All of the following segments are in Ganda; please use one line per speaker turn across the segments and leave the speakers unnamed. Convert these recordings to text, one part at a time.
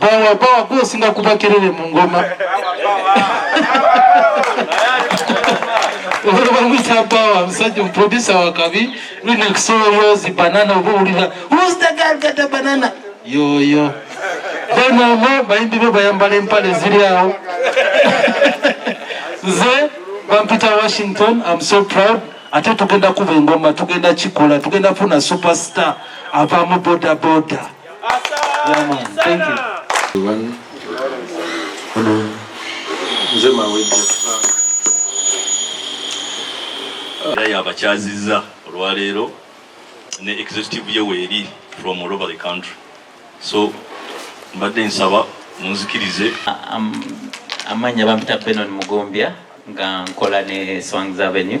bawa bawa gwosinga kuba kerere mu ngoma olwamwisa bawa musajja omuproducer wakabi lunekusoloyozi banana oba owulira who's the girl got the banana yoyo then omo bayimbi be bayambala empale ziri awo nze bampita washington am so proud ate tugenda kuba engoma tugenda kikola tugenda funa superstar avamu bodaboda boda.
Naye abakyazizza olwaleero ne executive ye weeri from all over the country so mbadde nsaba munzikirize
amannya bampita Benon Mugombya nga nkola ne Swangz Avenue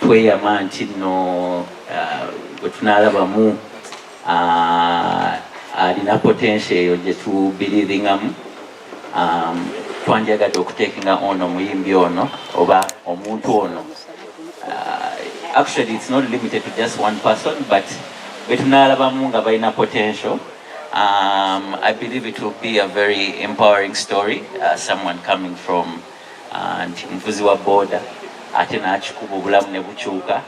tweyama nti nno uh, bwe tunalabamu uh, alina potensio eyo gye tubiriringamu um, twanjagadde okutekinga ono omuyimbi ono oba omuntu ono uh, actually it's not limited to just one person but betunalabamu nga balina potential um, i believe it will be a very empowering story uh, someone coming from and muvuzi wa boda ate nakikuba obulamu ne bukyuka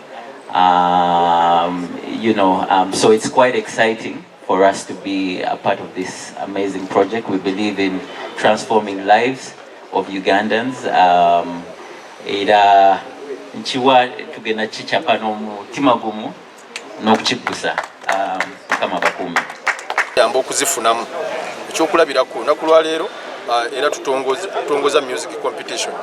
um, you know um, so it's quite exciting for us to be a part of this amazing project we believe in transforming lives of ugandans um, era nkiwa tugenda kicapa n'omutima gumu n'okukiggusa ah, mukama bakuumi yamba
okuzifunamu ekyokulabirako olunaku lwaleero ah, era tutongoza music competition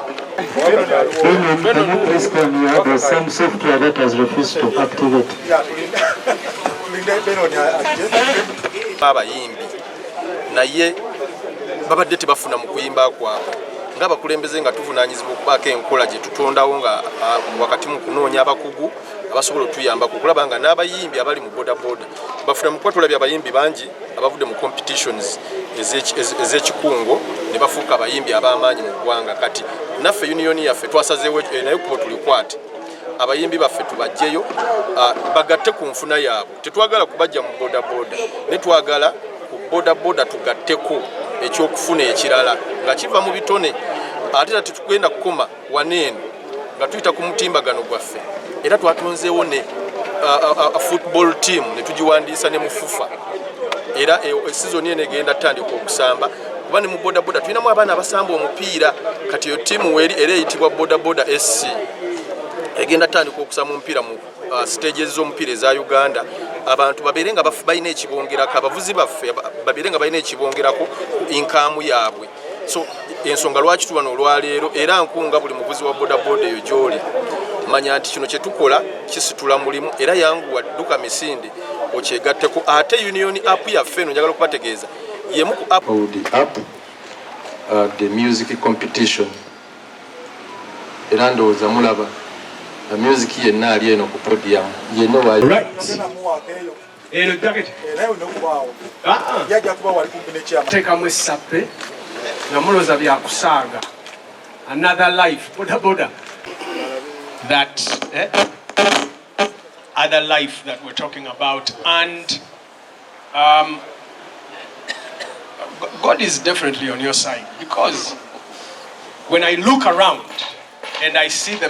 abayimbi naye babadde tebafuna mu kuyimba kwabwe ngaabakulembeze nga tuvunanyizibwa okubaako enkola gyetutondawo nga ah, wakati mu kunoonya abakugu abasobola otuyambako okulaba nga n'abayimbi abali mu bodaboda bafuna mukuba tulabye abayimbi bangi abavudde mu competitions ez'ekikungo ne bafuuka abayimbi ab'amaanyi mu ggwanga kati naffe uniyoni yaffe twasazeewo eh, naye kuba tulikwate abayimbi baffe tubajjeyo ah, bagatte ku nfuna yaabwe tetwagala kubajja mu bodaboda ne twagala ku bodaboda tugatteko ekyokufuna ekirala nga kiva mu bitone ate tatitugenda kukoma wano eno nga tuyita ku mutimbagano gwaffe era twatonzeewo ne football team ne tugiwandiisa ne mufufa era e, e, sizoni eno egenda tutandika okusamba kuba ne mu bodaboda tulinamu abaana abasamba omupiira kati eyo tiimu weeri era eyitibwa bodaboda sc egenda tutandika okusamba omupiira mu uh, siteegi ez'omupiira eza uganda abantu babeere nga balina ekibongerako abavuzi baffe babeere nga balina ekibongerako inkaamu yaabwe so ensonga lwaki tubano olwaleero era nkunga buli muvuzi wa bodaboda eyo gyoli manya nti kino kyetukola kisitula mulimu era yanguwa dduka misinde okyegatteko ate union app yaffe eno njagala okubategeeza yemu ku app uh,
the music competition era ndowooza mulaba uh, music yenna ali eno ku podium yenna right.
eno jaketi teekamu essappe nga mulooza byakusaaga another life bodaboda that eh, other life that we're talking about and um, God is definitely on your side because when I look around and I see the